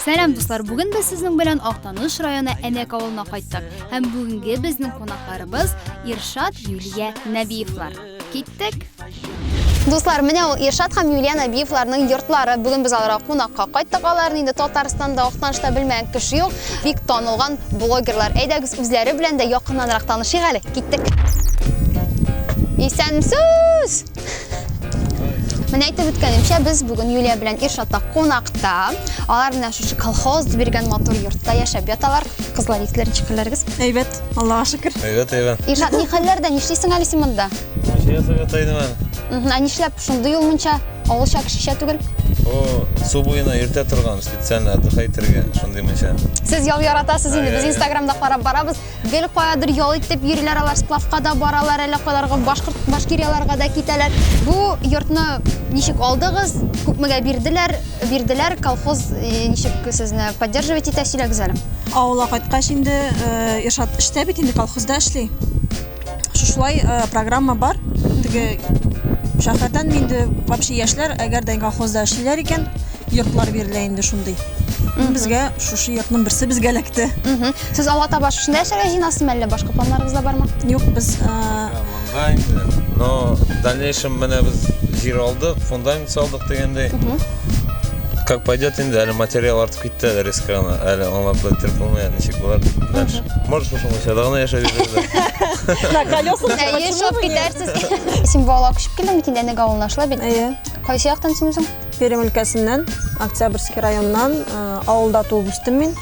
Сәлам дуслар, бүген без сезнең белән Актаныш районы Әнәк авылына кайттык. Һәм бүгенге безнең кунакларыбыз Иршат Юлия Нәбиевлар. Киттек. Дуслар, менә ул Иршат һәм Юлия Нәбиевларның йортлары. Бүген без аларга кунакка кайттык. Аларны инде Татарстанда, Актанышта белмәгән кеше юк. Бик танылган блогерлар. Әйдәгез, үзләре белән дә якыннанрак танышыйк әле. Киттек. Исәнмесез! Менә әйтеп үткәнемчә, без бүгін Юлия белән Иршатта кунакта. Алар менә шушы колхоз биргән матур йортта яшәп яталар. Кызлар, исләр ничек хәлләрегез? Әйбәт, Аллага шөкер. Әйбәт, әйбәт. Иршат, ни хәлләрдә? Нишлисең әле син монда? Ничә ясап ятайдым әле? Ә нишләп шундый ул мунча? Авылча кешечә түгел. О, су буена иртә торган, специально отдыхайтергә шундый мунча. Сез ял яратасыз инде, без Инстаграмда карап барабыз. Гел каядыр ял итеп йөриләр алар, сплавка да баралар, әле кайларга башкорт башкирияларга да китәләр. Бу йортны ничек алдыгыз? Күпмегә бирделәр? Бирделәр колхоз э, ничек сезне поддерживать итә? Сөйләгез әле. Авылга кайткач инде э, Иршат эштә бит инде колхозда эшли. Шушылай программа бар. Теге шәһәрдән инде вообще яшьләр, әгәр дә колхозда эшлиләр икән, йортлар бирелә инде шундый. Безгә шушы йортның берсе безгә эләкте. Сез алга таба шушында яшәргә җыенасызмы, әллә башка планнарыгыз да бармы? Юк, без Монда инде. Но в дальнейшем менә без җир алдык, фундамент салдык дигәндәй. Как пойдет инде, әле материал артык. Китте әле ресторана, әле аңлап бетереп булмый, ничек булар. Дальше. Может, шушы мунчада гына яшәп йөрергә. На колесах. Ә, почему Ешов бы нет? китәрсез. Син буала күчеп килдең бит инде әнәгә авылына шулай бит. Әйе. Кайсы яктан син үзең? Пермь өлкәсеннән, Октябрьский районнан, э, авылда туып үстем мин.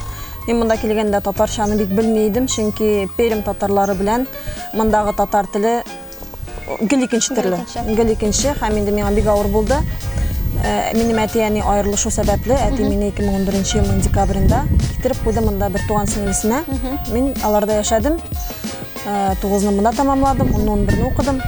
Мин монда килгәндә татарчаны бик белми идем, чөнки Пермь татарлары белән мондагы татар теле Гел икенче төрле. Гел икенче һәм инде миңа бик авыр булды. Э, минем әти-әни аерылышу сәбәпле, әти мине 2011 елның декабрендә китереп куйды монда бер туган сеңлесенә. Мин аларда яшәдем. Э, тугызны монда тәмамладым, онны 11-не укыдым.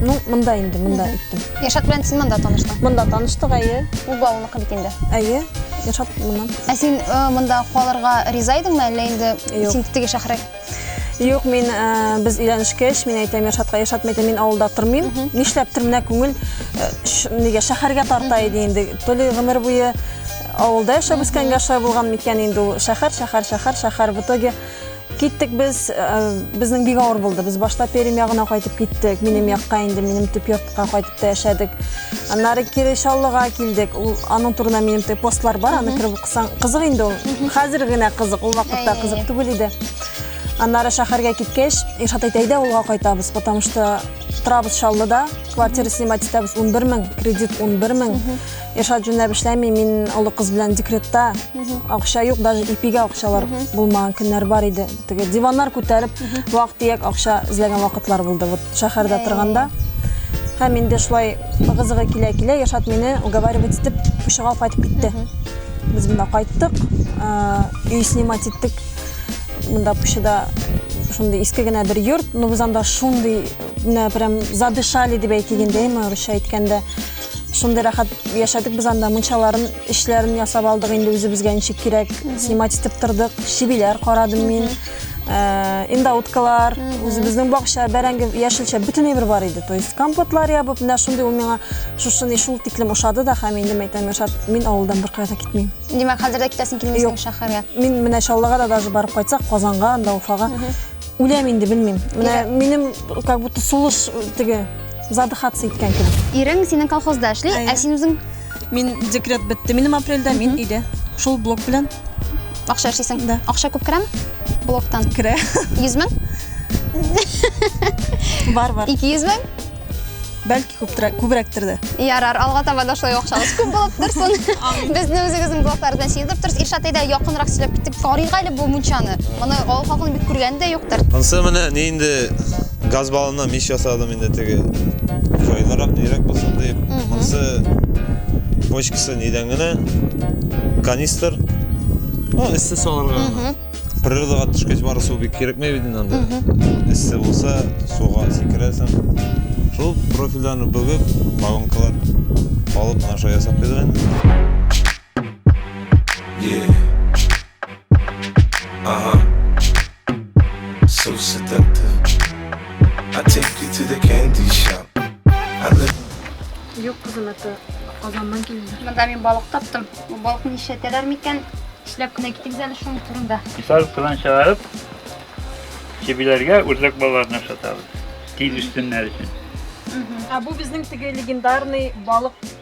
Ну, монда инде, монда иттем. Яшат белән син монда таныштың? Монда таныштык, әйе. Ул балныкы бит инде. Әйе. Яшат моннан. Ә син э, монда калырга риза идеңме, әллә инде син теге шәһәргә Юк, мин э, без өйләнешкәч, мин әйтәм, Иршатка, Иршат, мәйтәм, мин авылда тормыйм. Нишләптер менә күңел э, ш- нигә шәһәргә тарта иде инде. То ли гомер буе авылда яшәп үскәнгә шулай булган микән инде ул шәһәр, шәһәр, шәһәр, шәһәр. В итоге киттек без, э, безнең бик авыр булды. Без башта Пермь ягына кайтып киттек. Минем якка инде, минем төп йортка кайтып та яшәдек. Аннары кире Чаллыга килдек. Ул аның турында минем тә постлар бар, аны кереп Сан кызык инде ул. Хәзер генә кызык, ул вакытта Әй. кызык түгел иде. Аннары шәһәргә киткәч, Илшат әйтә, әйдә авылга кайтабыз, потому что торабыз Чаллыда, квартира снимать итәбез 11 мең, кредит 11 мең. Илшат җүнләп эшләми, мин олы кыз белән декретта. Акча юк, даже ипигә акчалар булмаган көннәр бар иде. Теге диваннар күтәреп, вак-төяк акча эзләгән вакытлар булды вот шәһәрдә торганда. Һәм инде шулай ыгы-зыгы килә-килә Яшат мине уговаривать итеп Пучыга кайтып китте. Без монда кайттык, ә, өй снимать иттек. Монда Пучыда шундый иске генә бер йорт, но без анда шундый менә прям задышали дип әйтик инде, әйме, урысча әйткәндә. Шундый рәхәт яшәдек без анда мунчаларын Эшләрен ясап алдык инде үзебезгә ничек кирәк, снимать итеп тордык. Чебиләр карадым мин. Э, индауткалар, үзебезнең бакча, бәрәңге, яшелчә бөтенләй бер бар иде. То есть компотлар ябып, менә шундый ул миңа шушыны шул тиклем ошады да һәм инде мәйтәм яшап, мин авылдан беркая да китмим. Димәк, хәзер дә китәсең килмисең шәһәргә. Мин менә Чаллыга да даже барып кайтсак, Казанга, анда Уфага. Үләм инде белмим. Менә минем как будто сулыш теге задыхаться иткән кебек. Ирең синең колхозда эшли, ә син үзең Мин декрет бетте минем апрельдә, мин өйдә. Шул блок белән. Акча эшлисең? Да. Акча күп керәме? Блоктан. Керә. 100 мең? Бар, бар. 200 мең? Бәлки күптүрәк, күбрәктер дә. Ярар, алга таба да шулай акчагыз күп булып торсын. Безне үзегезнең блоклар белән сиздереп торсыз. Иршат әйдә якынрак сөйләп китик. Карыйк әле бу мунчаны. Моны авыл халкының бик күргәне дә юктыр. Монсы менә ни инде Газ баллоннан мич ясадым инде теге җайлырак, нирәк булсын дип. Монысы бочкасы нидән генә канистр. Ну, эссе салырга. Природага төшкәч бары су бик кирәкмәй бит инде анда. Эссе булса, суга сикерәсең. Шул профильләрне бүгеп, баллонкалар алып, наша ясап куйдык инде. Yeah. Ага. So seductive. I take you to the candy shop. I look Юк, кызым, это Казаннан килде. Монда мин балык таптым. Бу балыкны нишләтәләр микән? Эшләп кенә китегез әле шуның турында. Мисал кызан чыгарып, чебиләргә үрдәк балаларын ашатабыз. Тиз үссеннәр өчен. Ә бу безнең теге легендарный балык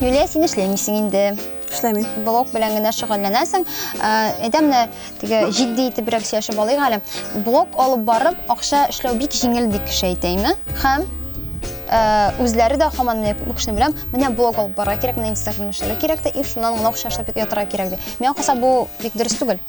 Юлия, син эшләмисең инде. Эшләмим. Блог белән генә шөгыльләнәсең. Әйдә менә теге җитди итебрәк сөйләшеп алыйк әле. Блог алып барып, акча эшләү бик җиңел дип кеше әйтә име? Хәм үзләре дә хаман менә күп кешене беләм, менә блог алып барырга кирәк, менә инстаграм эшләргә кирәк тә, и шуннан гына акча эшләп ятырга кирәк ди. Миңа калса бу бик дөрес түгел.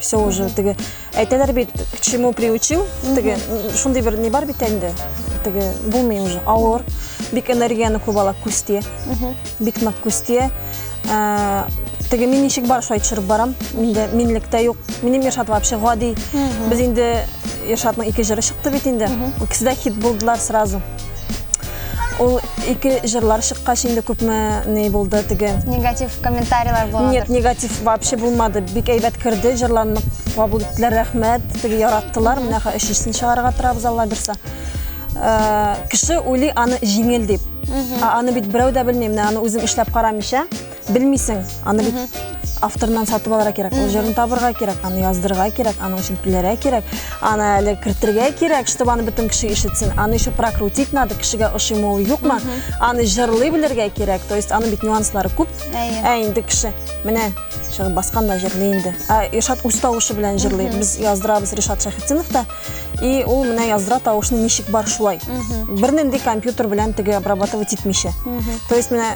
все уже теге әйтәләр бит к чему приучил теге шундый бер ни бар бит инде теге булмый уже авыр бик энергияне күп ала күз тия бик нык күз тия Ә, теге мин ничек бар шулай төшереп барам инде минлектә юк минем Иршат вообще гади без инде Иршатның ике җыры чыкты бит инде икесе дә хит булдылар сразу Ул ике җырлар чыккач инде күпме ни булды теге. Негатив комментарийлар булды. Нет, негатив вообще булмады. Бик әйбәт керде, җырларны кабул иттеләр, рәхмәт. Теге яраттылар. Менә хә өченчесен чыгарга торабыз Алла бирсә. Э, кеше уйлый аны җиңел дип. Аны бит берәү дә белми, менә аны үзем эшләп карамыйча. Белмисең, аны бит авторнан сатып алырга кирәк. Ул җырын табырга кирәк, аны яздырырга кирәк, аның өчен түләргә кирәк, аны әле кертергә кирәк, чтобы аны бөтен кеше ишетсен. Аны еще прокрутить надо, кешегә ошыймы ул юкмы, аны җырлый белергә кирәк. То есть аны бит нюанслары күп. Әйе. Ә инде кеше, менә чыгып баскан да җырлый инде. Ә Иршат үз тавышы белән җырлый. Без яздырабыз Ришат Шәхетдинов та. И ул менә яздыра тавышны ничек бар шулай. Бернинди компьютер белән теге обрабатывать итмичә. То есть менә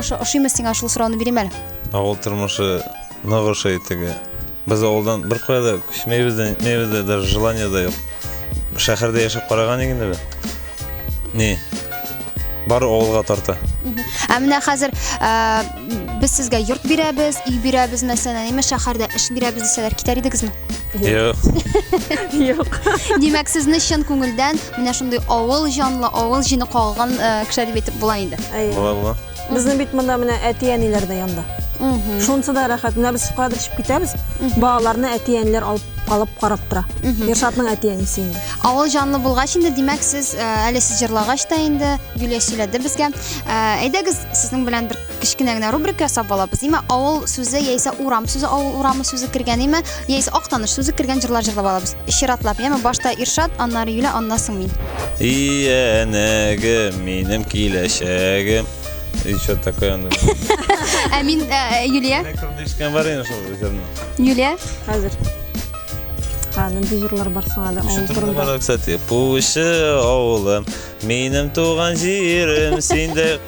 Ошыймы сиңа шул сорауны бирим әле? Авыл тормышы нык ошый теге. Без авылдан бер кая да күчмәйбез дә, нитмәйбез дә, даже желание да юк. Шәһәрдә яшәп караган инде без. Ни? Бары авылга тарта. Ә менә хәзер ә, без сезгә йорт бирәбез, өй бирәбез мәсәлән, әйме шәһәрдә эш бирәбез дисәләр, китәр идегезме? Юк. Юк. Димәк, сезне чын күңелдән менә шундый авыл җанлы, авыл җине кагылган э, кешеләр дип әйтеп була инде. Әйе. Була була. Безнең бит монда менә әти-әниләр дә янда. Шунысы да рәхәт. Менә без кадр чыгып китәбез. Балаларны әти-әниләр алып алып карап тора. Ершатның әти-әнисе инде. Авыл җанлы булгач инде, димәк, сез э, әле сез җырлагач та инде Юлия сөйләде безгә. Э, Әйдәгез, сезнең белән бер кечкенә генә рубрика ясап алабыз нимә авыл сүзе яисә урам сүзе авыл урамы сүзе кергән нимә яисә актаныш сүзе кергән җырлар җырлап алабыз чиратлап яме башта иршат аннары юля аннан соң мин иянәгем минем киләчәгем и что такое аны ә мин ә, юлия ишеткән бар инде шул җырны юлия хәзер Ха, нинди җырлар бар сиңа да авыл турында? Бар, кстати, Пучы авылым, минем туган җирем, синдә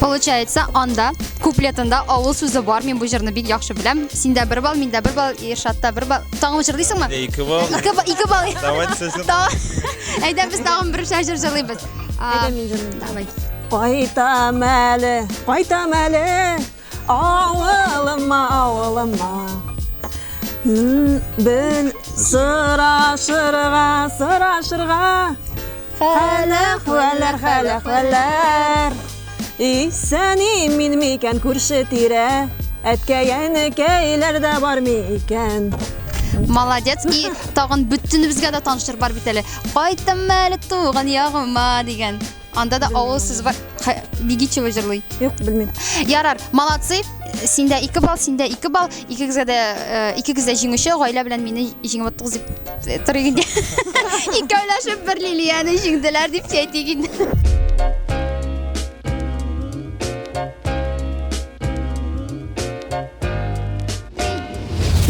Получается, анда куплетында авыл сүзе бар. Мин бу җырны бик яхшы беләм. Синдә бер бал, миндә бер бал, Иршатта бер бал. Тагын җырлыйсыңмы? Дә ике бал. Ике бал, ике бал. Давайте сезгә. Та- Әйдә без тагын бер җыр җырлыйбыз. А, Давай. Кайтам әле, кайтам әле, авылыма, авылыма. М, Бен сырашырга, сырашырга, Хәләх, вәләр, хәләх, вәләр. Исән имин микән күрше тирә? Әткәй, әнекәйләр дә бар микән? Молодец. И тагын бөтенебезгә дә таныштыр бар бит әле. Кайттым әле туган ягыма дигән. Анда да авыл сүз бар. Бигичева җырлый. Юк, белмим. Ярар, молодцы. Синдә 2 балл, синдә 2 балл. Икегезгә дә, э, икегез дә җиңүче, гаилә белән мине җиңеп аттыгыз дип торыйк инде. Икәүләшеп бер Лилияне җиңделәр дип әйтик инде.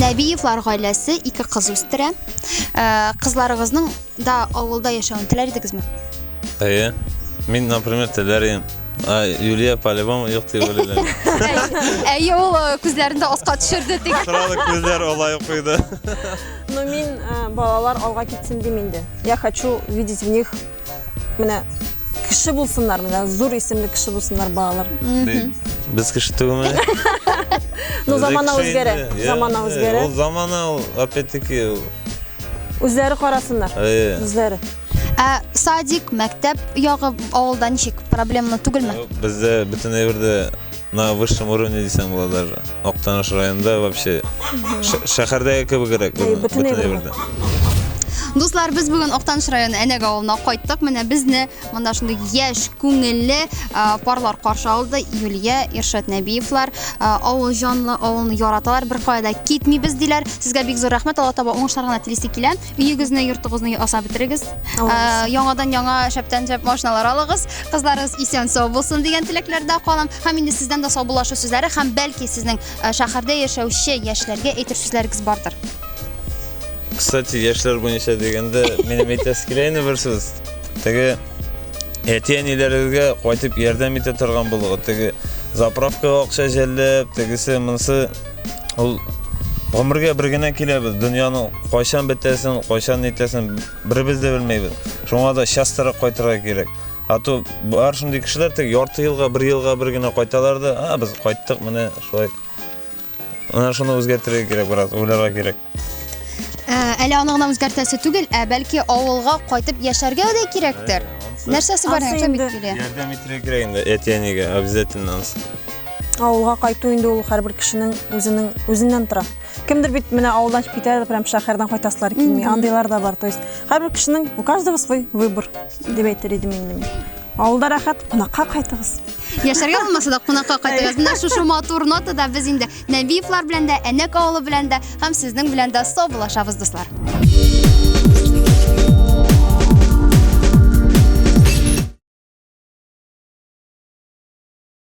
Нәбиевлар гаиләсе ике кыз үстерә. Э, Кызларыгызның Да авылда яшәвен теләр идегезме? Әйе. Мин, например, теләр идем. А Юлия по-любому юк дип уйлыйлар. Әйе, ул э, күзләрендә аска төшерде тик. Сразу күзләр алай куйды. Ну, мин э, балалар алга китсен дим инде. Я хочу видеть в них менә кеше булсыннар, менә зур исемле кеше булсыннар балалар. Без кеше түгелме? Ну, замана үзгәрә. Замана үзгәрә. Ул замана, ул, опять-таки, Үзләре карасыннар. Әйе. Үзләре. Ә садик, мәктәп ягы авылда ничек? Проблемалы түгелме? Бездә бөтен әйбердә на высшем уровне дисәң була даже. Актаныш районында вообще шәһәрдәге кебегрәк. Бөтен әйбердә. Дуслар, без бүген Актаныш районы Әнәк авылына кайттык. Менә безне Монда шундый яшь, күңелле парлар каршы алды. Юлия, Иршат Нәбиевлар, авыл җанлы, авылны яраталар, бер кайда китмибез диләр. Сезгә бик зур рәхмәт, Алла таба уңышлар гына телисе килә. Өегезне, йортыгызны ясап бетерегез. Яңадан яңа шәптән шәп машиналар алыгыз. Кызларыгыз исән сау булсын дигән теләкләрдә калам. Һәм инде сездән дә саубуллашу сүзләре һәм бәлки сезнең шәһәрдә яшәүче яшьләргә әйтер сүзләрегез бардыр. Кстати, яшьләр буенча дигәндә, минем әйтәсе килә инде бер сүз. Теге әти-әниләрегезгә кайтып ярдәм итә торган булыгыз. Теге заправкага акча жәлләп, тегесе монсы ул гомергә бер генә киләбез. Дөньяның кайчан бетәсен, кайчан нитәсен беребез дә белмәйбез. Шуңа да частырак кайтырга кирәк. А то бар шундый кешеләр теге ярты елга, бер елга бер генә кайталар да, а без кайттык, менә шулай. Менә шуны үзгәртергә кирәк, брат, уйларга кирәк. Ә, Әле аны гына үзгәртәсе түгел, ә бәлки авылга кайтып яшәргә дә кирәктер. Нәрсәсе бар, Ансы нәрсә бит инде. килә. Ярдәм итәргә кирәк инде әтиәнигә обязательно. ансы. Авылга кайту инде ул һәрбер кешенең үзенең үзеннән тора. Кемдер бит менә авылдан чыгып китә, прям шәһәрдән кайтасылар килми. Андыйлар да бар. То есть һәрбер кешенең у каждого свой выбор дип әйтер идем инде мин. Авылда рәхәт, кунакка кайтыгыз. Яшәргә булмаса да кунакка кайтыгыз. Менә шушы матур нотада без инде Нәбиевлар белән дә, Әнәк авылы белән дә һәм сезнең белән дә саубуллашабыз, дуслар.